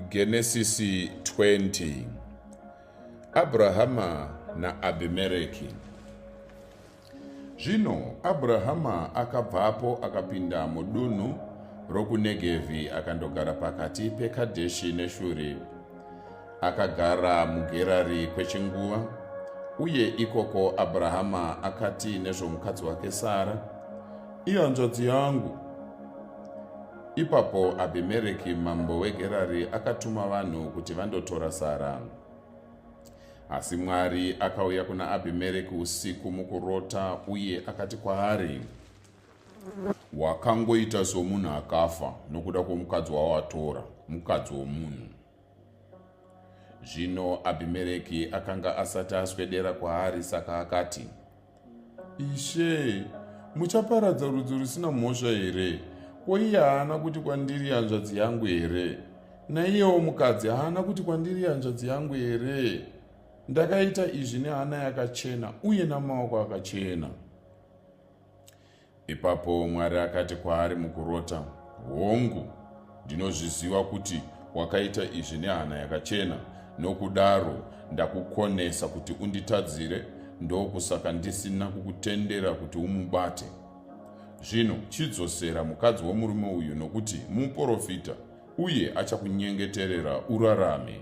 Genesisi 20 Abrahama naAbhimereki Zvino Abrahama akabvapo akapinda mudunhu rokuNegevhi akandogara pakati peKadheshi neShuri. Akagara muGerari kwechinguva, uye ikoko Abrahama akati nezvomukadzi wake Sara, Ihanzvadzi yangu, Ipapo Abhimereki mambo weGerari akatuma vanhu kuti vandotora Sara. Asi Mwari akauya kuna Abhimereki usiku mukurota uye akati kwaari, Wakangoita somunhu akafa nokuda kwomukadzi wawatora, mukadzi womunhu. Zvino Abhimereki akanga asati aswedera kwaari, saka akati, Ishe, muchaparadza rudzi rusina mhosva here? Ko iye haana kuti kwandiri hanzvadzi yangu here? Naiyewo mukadzi haana kuti kwandiri hanzvadzi yangu here? Ndakaita izvi nehana yakachena uye namaoko akachena. Ipapo Mwari akati kwaari mukurota, Hongu, ndinozviziva kuti wakaita izvi nehana yakachena, nokudaro ndakukonesa kuti unditadzire, ndokusaka ndisina kukutendera kuti umubate. Zvino chidzosera mukadzi womurume uyu, nokuti muprofita, uye achakunyengeterera urarame,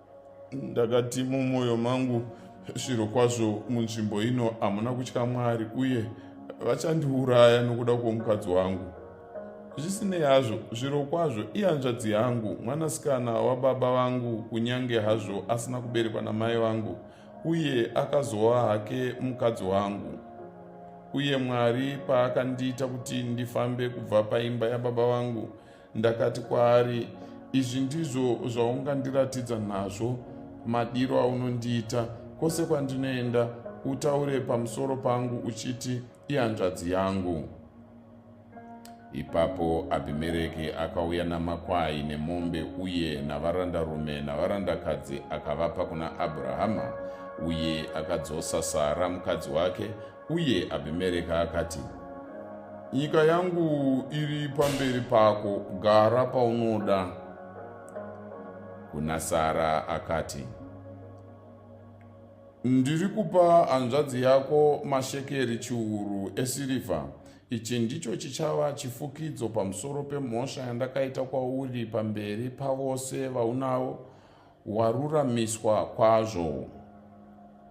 ndakati mumwoyo mangu zviro kwazvo munzvimbo ino hamuna kutya mwari uye vachandiuraya nokuda kwomukadzi wangu zvisinei hazvo zviro kwazvo ihanzvadzi yangu mwanasikana wababa vangu kunyange hazvo asina kuberekwa namai vangu uye akazova hake mukadzi wangu uye mwari paakandiita kuti ndifambe kubva paimba yababa vangu Ndakati kwaari, Izvi ndizvo zvaungandiratidza nazvo madiro aunondiita kwose kwandinoenda, utaure pamusoro pangu uchiti ihanzvadzi yangu. Ipapo Abhimereki akauya namakwai nemombe uye navarandarume navarandakadzi akavapa kuna Abrahama, uye akadzosa Sara mukadzi wake Uye Abhimereki akati, Nyika yangu iri pamberi pako, gara paunoda. Kuna Sara akati, Ndiri kupa hanzvadzi yako mashekeri chiuru esirivha. Ichi ndicho chichava chifukidzo pamusoro pemhosva yandakaita kwauri pamberi pavose vaunavo waruramiswa kwazvo.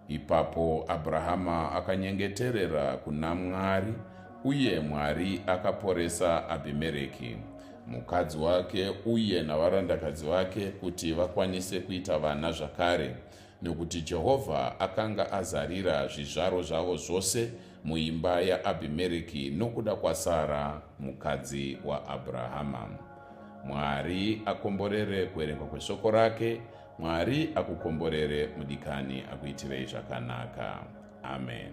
Ipapo Abrahama akanyengeterera kuna Mwari, uye Mwari akaporesa Abhimereki, mukadzi wake, uye navarandakadzi vake kuti vakwanise kuita vana zvakare, nokuti Jehovha akanga azarira zvizvaro zvavo zvose muimba yaAbhimereki nokuda kwaSara mukadzi waAbrahama. Mwari akomborere kuverengwa kweshoko rake. Mwari akukomborere mudikani akuitirei zvakanaka. Amen.